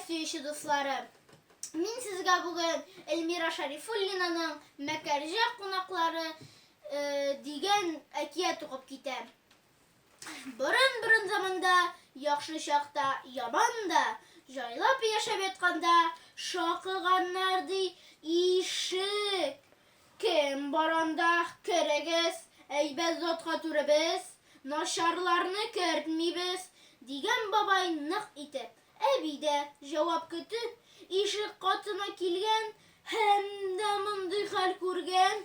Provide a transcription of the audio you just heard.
сөючі дуслары. Мин сезгә бүген Эльмира Шарифуллинаның Мәкәрҗә кунаклары э, дигән әкият укып китәм. Борын-борын заманда, яхшы чакта, яман да, җайлап яшәп ятканда, шакыганнар, ди, ишек. Кем бар анда, керегез, әйбәт затка түребез, начарларны кертмибез, дигән бабай нык итеп. Әби дә, җавап көтеп, ишек катына килгән һәм дә мондый хәл күргән.